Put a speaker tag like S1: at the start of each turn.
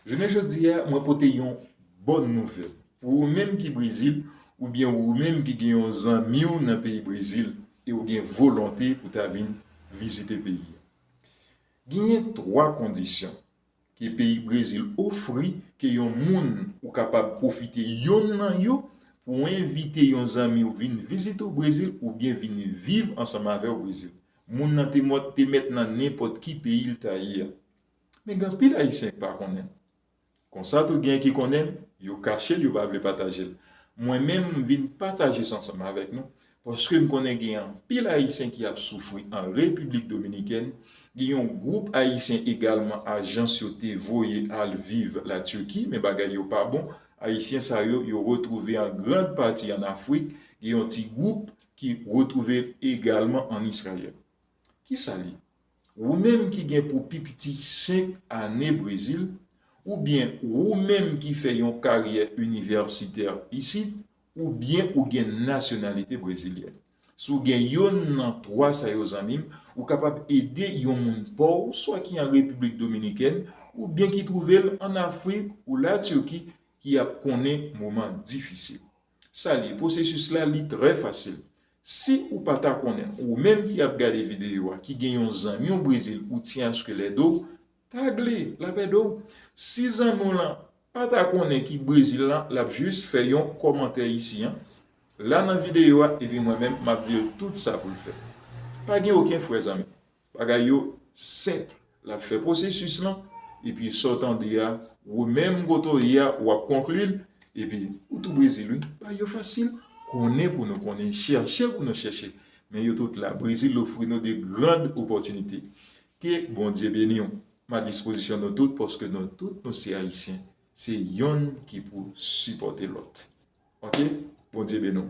S1: Jounen jodi a mwen pote yon bòn nouvèl pou ou menm ki Brezil oubyen ou menm ki gen yon zanmi w nan peyi Brezil e ou gen volonte pou ta vin vizite peyi a. Genyen 3 kondisyon ke peyi Brezil ofri ke yon moun ou kapab pwofite yonn nan yo pou w envite yon zanmi w vin vizite w Brezil oubyen vin viv ansanm avè w Brezil. Moun nan te mòt te mèt nan nenpòt ki peyi l ta ye a. Men gen anpil Ayisyen k pa konnen l. Konsa tou gen ki konnen l, yo kache l yo pa vle pataje l. Mwen menm m vin pataje sa ansanm avèk nou paske m konnen gen anpil Ayisyen ki ap soufri an Repiblik Dominikèn, gen yon gwoup Ayisyen egalman ajans yo te voye al viv la Turquie men bagay yo pa bon, Ayisyen sa yo yo retwouve an grand pati an Afrik, gen yon ti gwoup ki retwouve l egalman ann Israyèl. Ki sa l ye? Wou menm ki gen pou pi piti senk ane Brezil, oubyen wou menm ki fè yon karyè inivèsitè isit, oubyen ou gen nasyonalite brezilyèn. Si w gen youn nan twa sa yo zanmi m, ou kapab ede yon moun pa w swa ki an Repiblik Dominikèn oubyen ki twouve l ann Afrik ou Latiki ki ap konnen moman difisil. Sa li ye, pwosesis la li trè fasil. Si ou pa ta konnen, ou menm ki ap gade videyo a, ki gen yon zanmi w Brezil ou tyen aske l ede w, tag li, l ap ede w. Si zanmi w lan pa ta konnen ki Brezil lan, l ap jis fè yon kòmantè isi an, la nan videyo a epi mwen menm m ap di l tout sa pou l fè. Pa gen oken frè zanmi. Bagay yo senp lap fè pwosesis lan epi sa w tande a ou menm kote w ye a wap konkli l epi ou tou brezil wi bagay yo fasil konnen pou nou konnen chèche pou nou chèche men yo tout la brezil ofri nou de grand opòtinite ke bondye beni w m a dispozisyon nou tout paske nou tout nou se ayisyen se yonn ki pou sipòte lòt ok bondye beni w.